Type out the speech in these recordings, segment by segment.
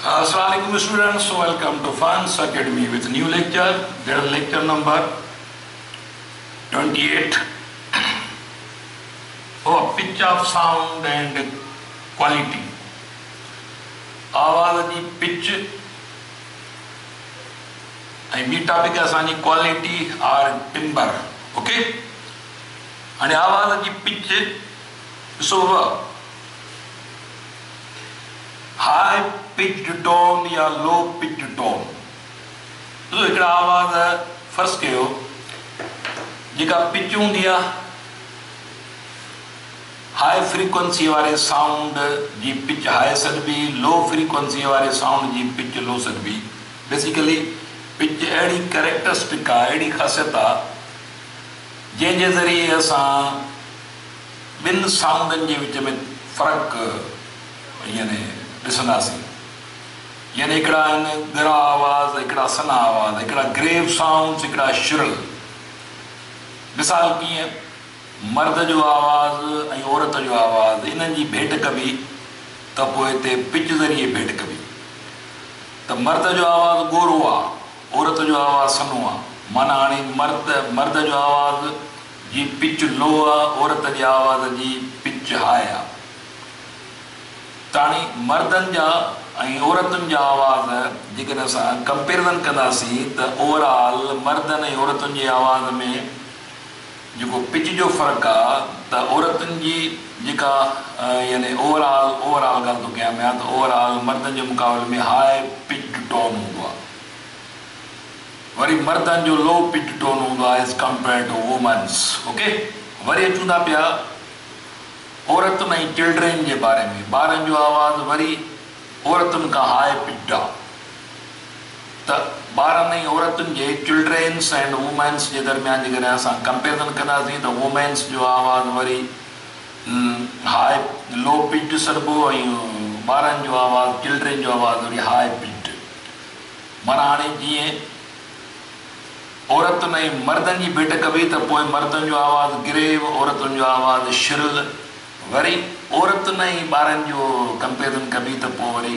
السلام عليڪم students welcome to Funs academy with new lecture dear lecture number 28 oh pitch of sound and quality آواز جي پچ ۽ ٻي ٽاپڪ اسان جي کوالٽي آر ٽمبر اوڪي هاڻي احوال جي پچ ڏسو وا هائي پچڊ ٽون يا لو پچڊ ٽون ڏسو هڪڙا آواز فرض ڪيو جيڪا پچ هوندي آهي هائي فريڪوئنسي واري سائونڊ جي پچ هائي سڏبي لو فريڪوئنسي واري سائونڊ جي پچ لو سڏبي بيسيڪلي پچ اهڙي ڪريڪٽرسٽڪ آهي اهڙي خاصيت آهي جنهن جي ذريعي اسان ٻن سائونڊن جي وچ ۾ فرق يعني ڏسنداسين يعني هڪڙا آهن ڳرا آواز هڪڙا سنها آواز هڪڙا گريو سائونڊز هڪڙا شرل مثال ڪيئن مرد جو آواز ۽ عورت جو آواز انهن جي ڀيٽ ڪبي ته پوء تي پچ ذريعي ڀيٽ ڪبي ته مرد جو آواز ڳورو آ. عورت جو آواز سنهو آ. معنيٰ هاڻي مرد مرد جو آواز جي پچ لو آ، عورت جي آواز جي پچ هاء آ. تاڻي مردن جا ۽ عورتن جا آواز جيڪڏهن اسان ڪمپيرزن ڪنداسين ته اوور آل مردن ۽ عورتن جي آواز ۾ جيڪو پچ جو فرق آ ته عورتن جي جيڪا يعني اوور آل اوور آل ڳالهه ٿو ڪيان پيان ته اوور آل مردن جي مقابلي ۾ هاء پچڊ ٽون هوندو آ وري مردن جو لو پچڊ ٽون هوندو آ as compare to womens okay وري اچون ٿا پيا عورتن ۽ چلڊرين جي باري ۾ ٻارن جو آواز وري عورتن کان هاء پچڊ آ. ته ٻارن ۽ عورتن جي چلڊرينس اينڊ وومينس جي درميان جيڪڏهن اسان ڪمپيرزن ڪنداسين ته وومينس جو آواز وري هاء لو پچڊ سڏبو ۽ ٻارن جو آواز چلڊرين جو آواز وري هاء پچڊ معنيٰ هاڻي جيئن عورتن ۽ مردن جي ڀيٽ ڪبي ته پوء مردن جو آواز گريو عورتن جو آواز شرل وري عورتن ۽ ٻارن جو ڪمپيرزن ڪبي ته پوء وري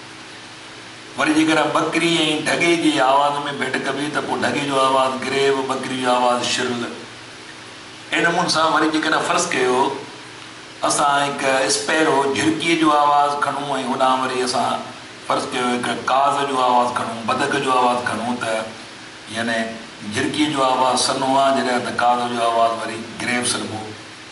وري جيڪڏهن ٻڪري ۽ ڍڳي جي آواز ۾ ڀيٽ ڪبي ته پوء ڍڳي جو آواز گريو، ٻڪري جو آواز شرل. اهڙي نموني سان وري جيڪڏهن فرض ڪيو اسان هڪ اسپيرو، جهرڪيء، جو آواز کڻون ۽ هوڏانهن وري اسان فرض ڪيو هڪ ڪاز جو آواز کڻون، بدڪ جو آواز کڻون ته يعني جهرڪيء جو آواز سنهو آ جڏهن ته ڪاز جو آواز وري گريو سڏبو.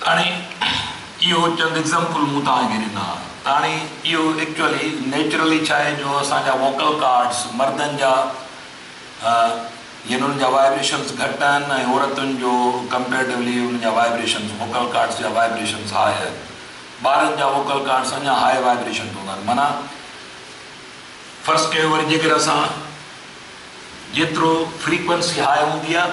تاڻي اهو چند ايگزامپل مون توهان کي ڏنا. تاڻي اهو ايڪچوئلي نيچرلي ڇا آهي جو اسان جا ووڪل ڪارڊس مردن جا يعني انهن جا وائبريشنس گهٽ آهن ۽ عورتن جو ڪمپيريٽولي انهن جا وائبريشنس ووڪل ڪارڊس جا وائبريشنس هاء آهن. ٻارن جا ووڪل ڪارڊس اڃا هاء وائبريشن هوندا آهن معنيٰ فرض ڪيو وري جيڪر اسان جيترو فريڪوئنسي هاء هوندي آهي.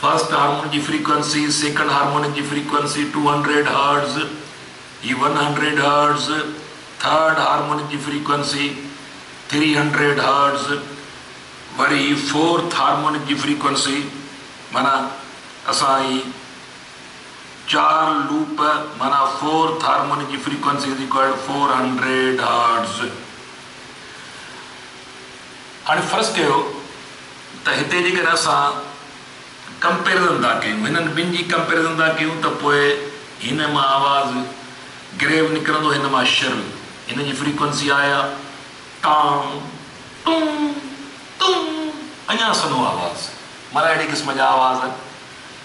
فرسٽ هارمون جي فريڪوئنسي، سيڪنڊ هارمونڪ جي فريڪوئنسي ٽو هنڊريڊ هرٽز، هي one hundred hertz, third harmonic جي فريڪوئنسي ٿري هنڊريڊ هرٽز، وري فورٿ هارمونڪ جي فريڪوئنسي معنيٰ اسان هي چار لوپ معنيٰ فورٿ هارمونڪ جي frequency is equal to four hundred hertz. هاڻي فرض ڪيو ته هتي جيڪڏهن اسان ڪمپيرزن ٿا ڪيون، هنن ٻن جي ڪمپيرزن ٿا ڪيون ته پوء هن مان آواز گريو نڪرندو هن مان شرل. هن جي فريڪوئنسي آهي ٽان، ٽون، تون، اڃا سنهو آواز. معنيٰ اهڙي قسم جا آواز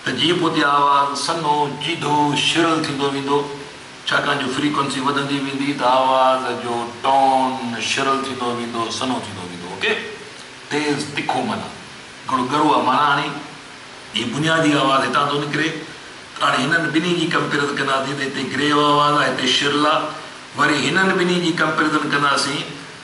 ته جيئن پوء تي آواز سنهو، جيڌو، شرل ٿيندو ويندو. ڇاڪاڻ جو فريڪوئنسي وڌندي ويندي ته آواز جو ٽون شرل ٿيندو ويندو سنهو ٿيندو ويندو اوڪي تيز تکو معنيٰ گڙ ڳرو آ معنيٰ هاڻي هي بنيادي آواز هتان ٿو نڪري ته هاڻي هنن ٻنهي جي ڪمپيرز ڪنداسين ته هتي گريو آواز آ هتي شرل آ وري هنن ٻنهي جي ڪمپيرزن ڪنداسين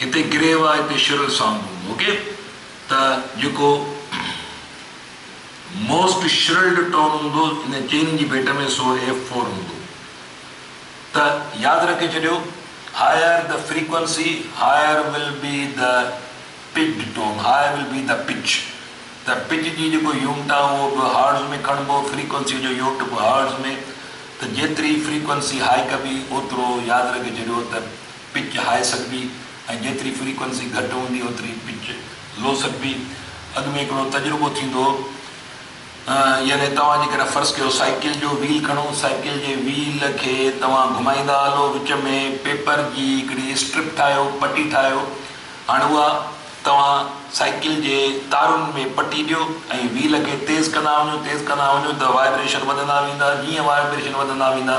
هتي گريو آ هتي شرل سانگ هوندو اوڪي ته جيڪو موسٽ شرلڊ ٽون هوندو ان چيني جي بيٽ ۾ سو ايف فور هوندو ته ياد رکي ڇڏيو هائر ته فريڪوئنسي هائر ول بي ته pitched tone higher will be ته پچ ته پچ جي جيڪو يونٽ آ اهو به هارٽز ۾ کڻبو فريڪوئنسي جو يونٽ به هارٽز ۾ ته جيتري فريڪوئنسي هائي ڪبي اوترو ياد رکي ڇڏيو ته پچ هاء سگبي ۽ جيتري فريڪوئنسي گهٽ هوندي اوتري پچ لو سگبي. اڳ ۾ هڪڙو تجربو ٿيندو هو يعني توهان جيڪڏهن فرض ڪيو سائيڪل جو ويل کڻو سائيڪل جي ويل کي توهان گهمائيندا هلو وچ ۾ پيپر جي هڪڙي اسٽرپ ٺاهيو پٽي ٺاهيو هاڻ اها توهان سائيڪل جي تارن ۾ پٽي ڏيو ۽ ويل کي تيز ڪندا وڃو تيز ڪندا وڃو ته وائبريشن وڌندا ويندا جيئن وائبريشن وڌندا ويندا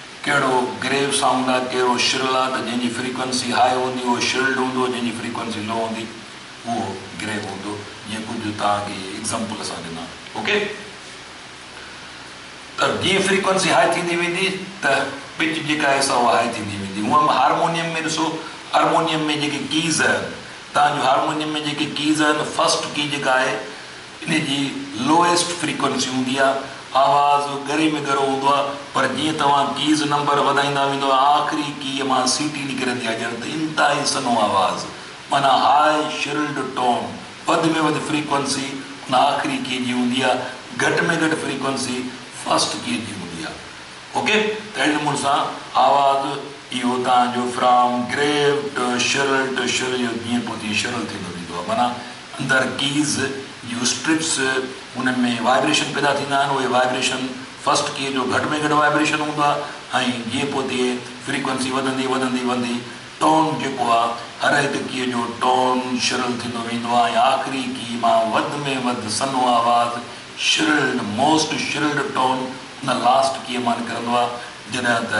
ڪهڙو گريو سائونڊ آ ڪهڙو شرل آ ته جنهن جي فريڪوئنسي هاء هوندي اهو شرلڊ هوندو جنهن جي فريڪوئنسي لو هوندي اهو گريو هوندو جيئن ڪجهه جو توهان کي اهي ايگزامپل اسان ڏنا اوڪي ته جيئن فريڪوئنسي هاء ٿيندي ويندي ته پچ جيڪا آهي سا اها هاء ٿيندي ويندي هونء به هارمونيم ۾ ڏسو هارمونيم ۾ جيڪي ڪيز آهن توهان جون هارمونيم ۾ جيڪي ڪيز آهن فرسٽ ڪي جيڪا آهي انهي جي لوئيسٽ فريڪوئنسي هوندي آهي. آواز ڳري ۾ ڳرو هوندو آهي پر جيئن توهان ڪيز نمبر وڌائيندا ويندو آخري ڪيء مان سيٽي نڪرندي آهي ڄڻ ته انتهائي سنهو آواز معنيٰ هاء شرلڊ ٽون. وڌ ۾ وڌ فريڪوئنسي ان آخري ڪيء جي هوندي آهي. گهٽ ۾ گهٽ فريڪوئنسي فرسٽ ڪيء جي هوندي آهي. اوڪي ته اهڙي نموني سان آواز اهو توهان جو فرام گريوٽ شرلٽ شرليو جيئن پوء تيئن شرل ٿيندو ويندو آهي معنيٰ اندر ڪيز جون اسٽرپس انهن ۾ وائبريشن پيدا ٿيندا آهن اهي وائبريشن فرسٽ ڪي جو گهٽ ۾ گهٽ وائبريشن هوندو آهي ۽ جيئن پوء تيئن فريڪوئنسي وڌندي وڌندي وندي ٽون جيڪو آهي هر هڪ ڪي جو ٽون شرل ٿيندو ويندو آهي ۽ آخري ڪي مان وڌ ۾ وڌ سنهو آواز شرلڊ موسٽ شرلڊ ٽون ان لاسٽ ڪي مان نڪرندو آهي جڏهن ته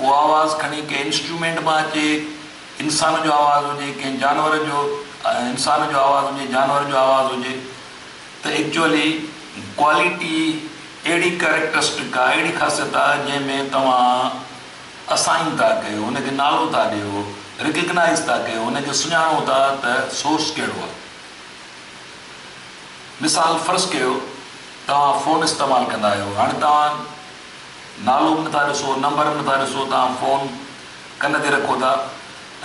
اهو آواز کڻي ڪنهن انسٽرومينٽ مان اچي، انسان جو آواز هجي، ڪنهن جانور جو، انسان جو آواز هجي، جانور جو آواز هجي ته ايڪچوئلي ڪوالٽي اهڙي ڪريڪٽرسٽڪ آ، اهڙي خاصيت آ جنهن ۾ توهان اسائن ٿا ڪيو، ان کي نالو ٿا ڏيو، ريڪگنائيز ٿا ڪيو، ان کي سڃاڻو ٿا ته سورس ڪهڙو آ. مثال فرض ڪيو توهان فون استعمال ڪندا آهيو، هاڻي توهان نالو به نٿا ڏسو نمبر به نٿا ڏسو توهان فون ڪن تي رکو ٿا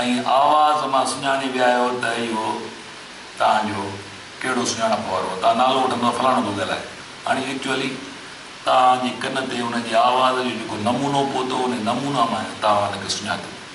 ۽ آواز مان سڃاڻي ويا آهيو ته اهو توهان جو ڪهڙو سڃاڻپ وارو توهان نالو وٺندا ته فلاڻو ٿو ڳالهائي هاڻي ايڪچوئلي توهان جي ڪن تي ان جي آواز جو جيڪو نمونو پهتو انهي نمونا مان توهان ان کي سڃاتو.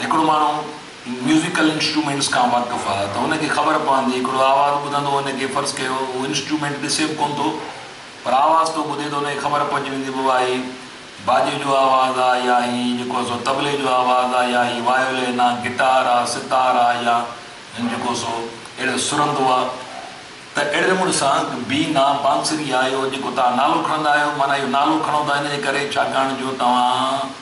هڪڙو ماڻهو ميوزيڪل انسٽرومينٽس کان واقف آ ته هن کي خبر پوندي هڪڙو آواز ٻڌندو هن کي فرض ڪيو هو انسٽرومينٽ ڏسي به ڪونه ٿو پر آواز ٿو ٻڌي ته هن کي خبر پئجي ويندي بابا هي باجي جو آواز آ يا هي جيڪو سو طبلي جو آواز آ يا هي وايولين آ گٽار آ ستار آ يا هن جيڪو سو اهڙو سرندو آ ته اهڙي نموني سان بين آ بانسري آ اهو جيڪو توهان نالو کڻندا آهيو معنيٰ اهو نالو کڻو ٿا ان جي ڪري ڇاڪاڻ جو توهان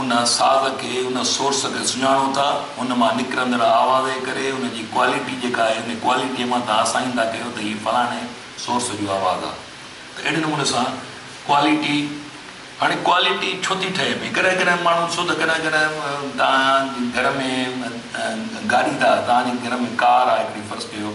ان ساز کي، ان سورس کي سڃاڻو ٿا، ان مان نڪرندڙ آواز جي ڪري، ان جي ڪوالٽي جيڪا آهي، ان ڪوالٽيء مان توهان سائن ٿا ڪيو ته هي فلاڻي سورس جو آواز آهي. ته اهڙي نموني سان ڪوالٽي، هاڻي ڪوالٽي ڇو ٿي ٺهي پئي؟ ڪڏهن ڪڏهن ماڻهو ڏسو ته ڪڏهن ڪڏهن توهان جي گهر ۾ گاڏي ٿا، توهان جي گهر ۾ ڪار آهي هڪڙي فرض ڪيو،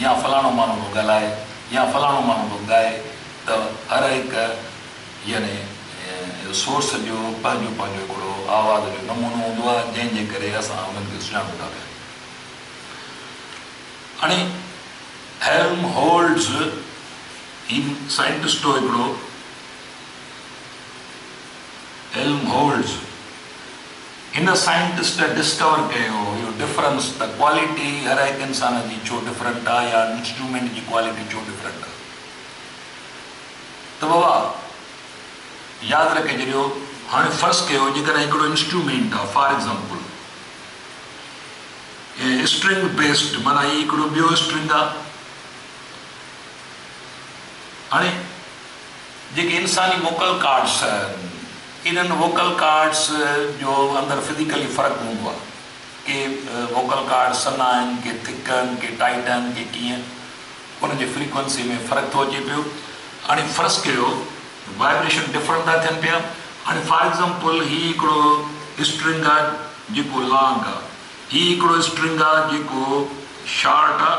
يا فلاڻو ماڻهو به ڳالهائي يا فلاڻو ماڻهو به ڳائي ته هر هڪ يعني سورس جو پنهنجو پنهنجو هڪڙو آواز جو نمونو هوندو آهي جنهن جي ڪري اسان انهن کي سڃاڻون ٿا پيا. هاڻي هيلم هولٽز هي سائنٽسٽ هو هڪڙو هيلم هولٽز. هن سائنٽسٽ ڊسڪور ڪيو اهو ڊفرنس ته ڪوالٽي هر هڪ انسان جي ڇو ڊفرنٽ آ يا انسٽرومينٽ جي ڪوالٽي ڇو ڊفرنٽ آ ته بابا ياد رکي جڏيو هاڻي فرض ڪيو جيڪڏهن هڪڙو انسٽرومينٽ آ فار ايگزامپل اسٽرنگ بيسڊ معنيٰ هي هڪڙو ٻيو اسٽرنگ آ هاڻي جيڪي انساني موڪل ڪارڊس انهن ووڪل ڪارڊس جو اندر فزيڪلي فرق هوندو آهي. ڪي ووڪل ڪارڊ سنا آهن، ڪي ٿڪ آهن، ڪي ٽائيٽ آهن، ڪي ڪيئن. انهن جي فريڪوئنسي ۾ فرق ٿو اچي پيو. هاڻي فرض ڪيو وائبريشن ڊفرنٽ ٿا ٿين پيا. هاڻي فار ايگزامپل هي هڪڙو اسٽرنگ آهي جيڪو لانگ آهي. هي هڪڙو اسٽرنگ آهي جيڪو شارٽ آهي.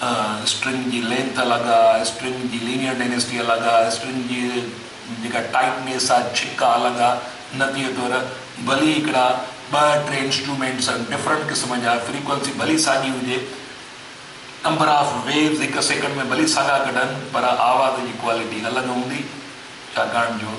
اسٽرنگ جي لينٿ الڳ آ، اسٽرنگ جي لينيئر ڊينسٽي الڳ آ، اسٽرنگ جي جيڪا ٽائٽنيس آ، ڇڪ آ، الڳ آ، نتيجي طور ڀلي هڪڙا ٻه ٽي انسٽرومينٽس ڊفرنٽ قسم جا فريڪوئنسي ڀلي ساڳي هجي، نمبر آف ويوز هڪ سيڪنڊ ۾ ڀلي ساڳا ڪڍن پر آواز جي ڪوالٽي الڳ هوندي ڇاڪاڻ جو.